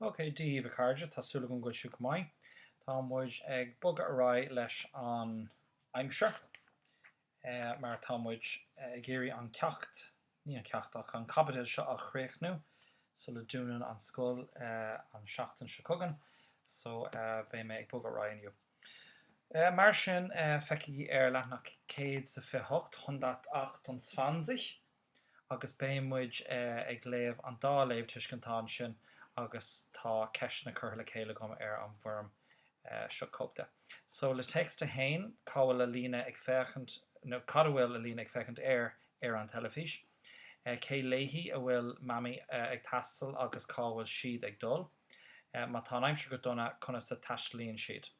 OK, Dia daoibh, a chairde, tá súil agam go bhfuil sibh go maith. Tá muid ag bogadh ar aghaidh leis an aimsir, mar tá muid ag iarraidh an ceacht, ní an ceacht, ach an caibidil seo a chríochnú sula dúnann an scoil an tseachtain seo chugainn. So, beidh mé ag bogadh ar aghaidh inniu. Mar sin, feicigí ar leathnach céad is a fiche hocht hundertachtundzwanzig. agus beidh muid ag léamh an dá léamhtuiscintán ansin agus tá ceisteanna curtha le chéile agam ar an bhfoirm. Seo cóip de. So, le téacs a haon, cá bhfuil Alina ag féachaint, nó cad a bhfuil Alina ag féachaint air ar an teilifís? Cé leis a bhfuil Mammy ag taisteal agus cá bhfuil siad ag dul? Má tá an aimsir go dona, conas a taistlíonn siad?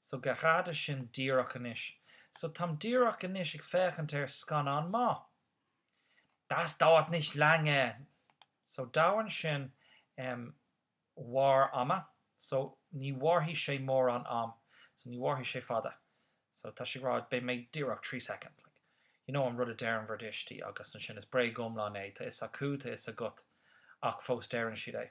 So gerade sin díreach anois? So táim díreach anois ag féachaint ar scannán maith. Das dauert nicht lange! So dauern sin achar ama. So ní mhairfidh sé mórán am. So ní mhairfidh sé fada. So tá sé ag rá beidh mé díreach trí soicind. Like, you know an rud a deireann bhur dtuistí agus ansin is bréag iomlán é, tá fhios acu, tá fhios agat, ach fós deireann siad é.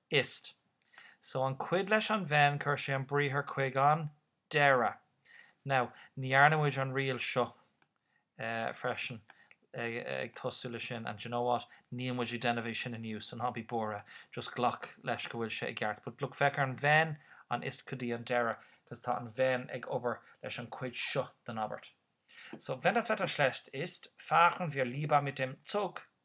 Ist. So an cuid leis an wenn cuir sé an briathar chuig an deireadh. Now, ní dhearna muid an riail seo freisin ag tosú le sin, and d'you know what, níl muid ag déanamh é sin inniu, so ná bí buartha, just glac leis go bhfuil sé i gceart. But look, bogfaidh an wenn an ist go dtí an deireadh, because tá an wenn ag obair leis an cuid seo den abairt. So, wenn das Wetter schlecht ist, fahren wir lieber mit dem Zug.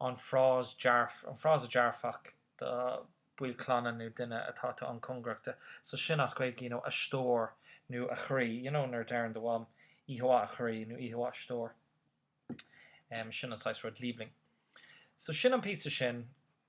an frása dearfach do baill clainne nó duine atá tú an-chóngarach de, so sin as Gaeilge, you know, a stór nó a chroí, you know nuair a deireann do mham oíche mhaith a chroí nó oíche mhaith a stór, em, sin an saghas rud, Liebling. So sin an píosa sin.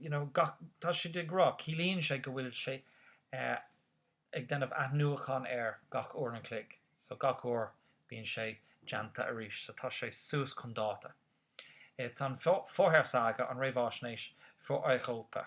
you know, gach, tá siad ag rá, ciallaíonn sé go bhfuil sé ag déanamh athnuachan air gach uair an chloig, so gach uair bíonn sé déanta arís, so tá sé suas chun dáta. Is an Vorhersage, an réamháisnéis für Europa.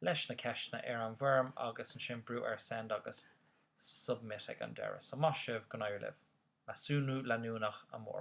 leis na ceisteanna ar an bhfoirm agus ansin brú ar Send agus Submit ag an deireadh. So maith sibh, go n-éirí libh. Measúnú leanúnach amárach.